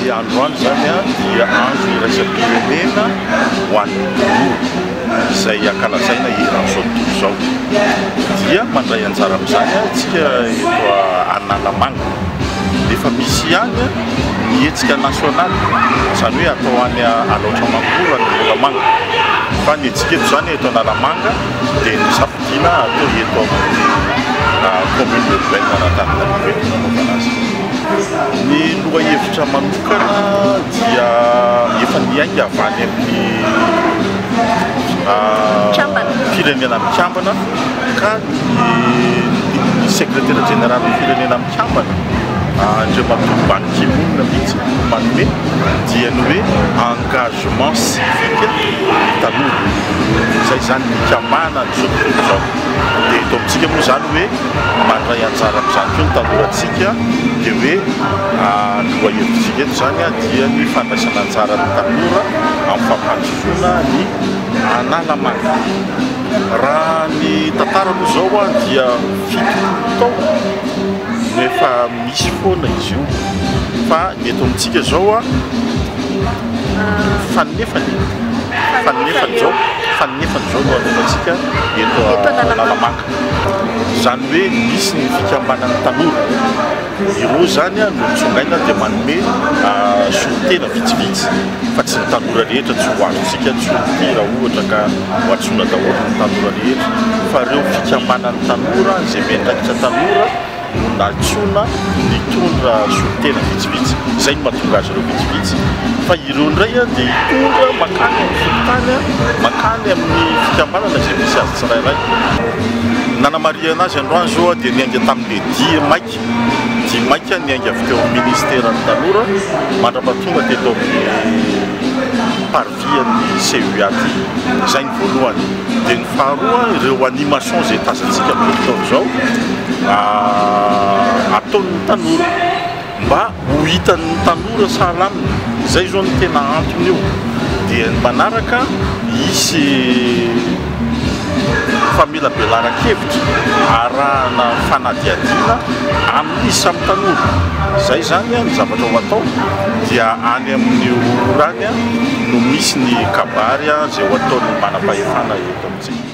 Ny androany izany dia andro iraisam-pirenena ho an'ny tanora izay ankalazaina eran'izao tontolo izao. Dia mandray anjara amin'izany isika eto Analamanga. Efa misy ihany ny hetsika nasionaly, izany hoe atao any Alaotra Mangoro any Moramanga. Fa ny hetsika eto izany, eto Analamanga, dia ny zap. Vina atao eto amin'ny commune urbaine an'Antananarivo eto nanaovana azy ity. Ny lohahevitra manokana dia efa niainga avy any amin'ny firenena mikambana ka ny ny secretaire général firenena Kambana Andriamatoa Ban Ki Moon mihitsy no manome dia ny hoe engagement civique ny tanora. Izay izany ny hikambanana an'izao tontolo izao. Dia eto amintsika moa izany hoe mandray anjara amin'izany koa ny tanorantsika dia hoe lohahevitsika eto izany dia ny fandraisana anjaran'ny tanora amin'ny fampandrosoana ny Analamanga. Raha ny tantara aloha izao dia. fitony taona no efa misy foana izy io fa ny eto amintsika zao a fanefany fanefany zao fanefany zao no anaovantsika eto Analamanga zany hoe misy ny fikambanan'ny tanora Ireo izany no mitsongaina dia manome solontena vitsivitsy fa tsy ny tanora rehetra, tsy ho azontsika tsorim-pitia raha ohatra ka hohantsoina daholo ny tanora rehetra fa ireo fikambanan'ny tanora izay miandraikitra tanora no nantsoina nitondra solontena vitsivitsy, izay no mahatonga azy ireo vitsivitsy fa ireo indray dia hitondra mankany amin'ny fokontany, mankany amin'ny fikambanana izay misy azy tsirairay. Nanamarihana azy androany izao dia niainga tamin'ny. Dia dia maika dia maika niainga avy teo amin'ny Minisiteran'ny tanora mandrapa tonga teto amin'ny Parvis an'ny CUA ity. Izay ny voalohany. Dia ny faharoa, ireo animations izay tazantsika amin'izao fotoana izao ataon'ny tanora. mba ho hitan'ny tanora sahala aminy, izay izao no tena antony io, dia ny manaraka hisy famelabelaran-kevitra arahana fanadihadiana amin'ny samy tanora, izay izany ny zavatra ho atao dia any amin'ny ora any no misy ny kabary izay ho ataon'ny manam-pahefana eto amintsika.